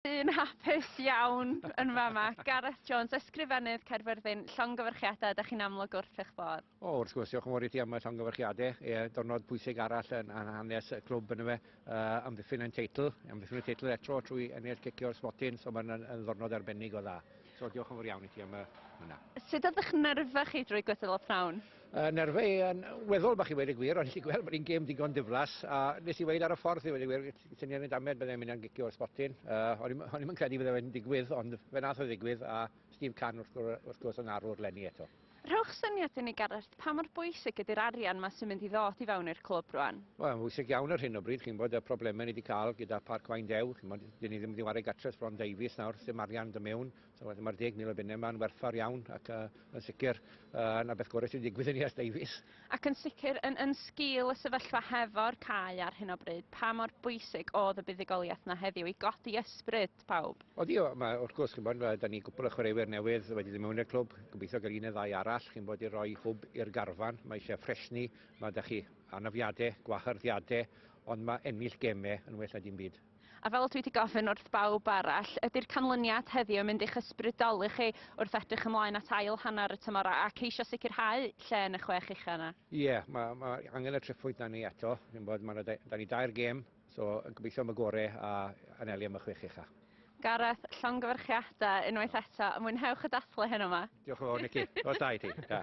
Dyn hapus iawn yn fama. Gareth Jones, ysgrifennydd Caerfyrddin, llongyfarchiadau, da chi'n amlwg wrth eich bodd. O, wrth gwrs, diolch yn fawr i ti am y llongyfarchiadau. E, dyrnod pwysig arall yn, yn hanes y clwb yn y fe, uh, amddiffyn yn teitl, amddiffyn yn teitl eto trwy ennill cicio'r sbotyn, so mae'n ddyrnod arbennig o dda. So diolch yn fawr iawn i ti am y hwnna. Sut oedd eich nerfau chi drwy gwydl o prawn? Uh, nerfau yn weddol bach i wedi gwir, ond i gweld bod hi'n gêm digon diflas, a nes i wedi ar y ffordd i wedi gwir, Ti'n nefyn damed byddai'n mynd am gicio o'r sbotyn. Uh, o'n i'n yn credu byddai'n fe'n digwydd, ond fe nath o ddigwydd, a Steve Can wrth, wrth gwrs yn arwr lenni eto. Rhowch syniad i ni, Gareth, pa mor bwysig ydy'r arian yma sy'n mynd i ddod i fewn i'r clwb rwan? Wel, mae'n bwysig iawn ar hyn o bryd, chi'n bod y problemau ni wedi cael gyda Parc Wain Dew, chi'n bod, dyn ni ddim wedi wario gatres Bron Davies nawr, sy'n arian dy mewn, So, wedyn mae'r 10,000 o bunnau yma'n werthfawr iawn ac uh, yn sicr uh, na beth gorau sy'n digwydd i ni as Davies. Ac yn sicr, yn, yn sgil y sefyllfa hefo'r cae ar hyn o bryd, pa mor bwysig oedd y buddugoliaeth yna heddiw i godi ysbryd pawb? O di, mae, wrth gwrs, chi'n bod, da ni gwbl o chwaraewyr newydd wedi ddim mewn i'r clwb, gobeithio gael un neu ddau arall, chi'n bod i roi hwb i'r garfan, mae eisiau ffresni, mae da chi anafiadau, gwahyrddiadau, ond mae ennill gemau yn well na dim byd. A fel dwi wedi gofyn wrth bawb arall, ydy'r canlyniad heddiw yn mynd i'ch ysbrydoli chi wrth edrych ymlaen at ail hanner y tymor a ceisio sicrhau lle yn y chwech ucha yna? Ie, mae ma angen y tri phwynt na ni eto. Dwi'n bod, ma da, da ni dair gêm, so gobeithio am y gore a anelu am y chwech ucha. Gareth, llongyfarchiadau unwaith eto, mwynhewch y dathlu heno yma. Diolch yn fawr Nicky, os da i ti. Da.